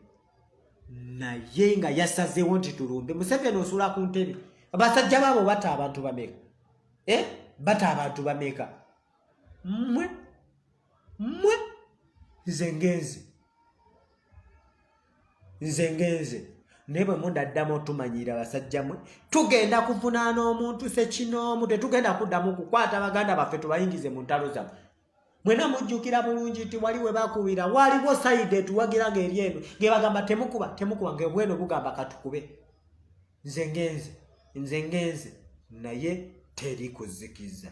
naye nga yasazeewo nti tulumbe museveni osula ku ntebe abasajja baabo bata abantu bameka eh? bata abantu bameka mwe mwe nze ngenze nze ngenze naye bwe mundaddamu otumanyira basajja mwe tugenda kuvunaana omuntu sekinoomu tetugenda kuddamu kukwata baganda baffe tubayingize mu ntalo zamwe mwena mujjukira bulungi nti wali we bakubira waliwo sayidi etuwagira nga eri eno nge bagamba temukuba temukuba nga obweno bugamba katukube nze ngenze nze ngenze naye teri kuzikiza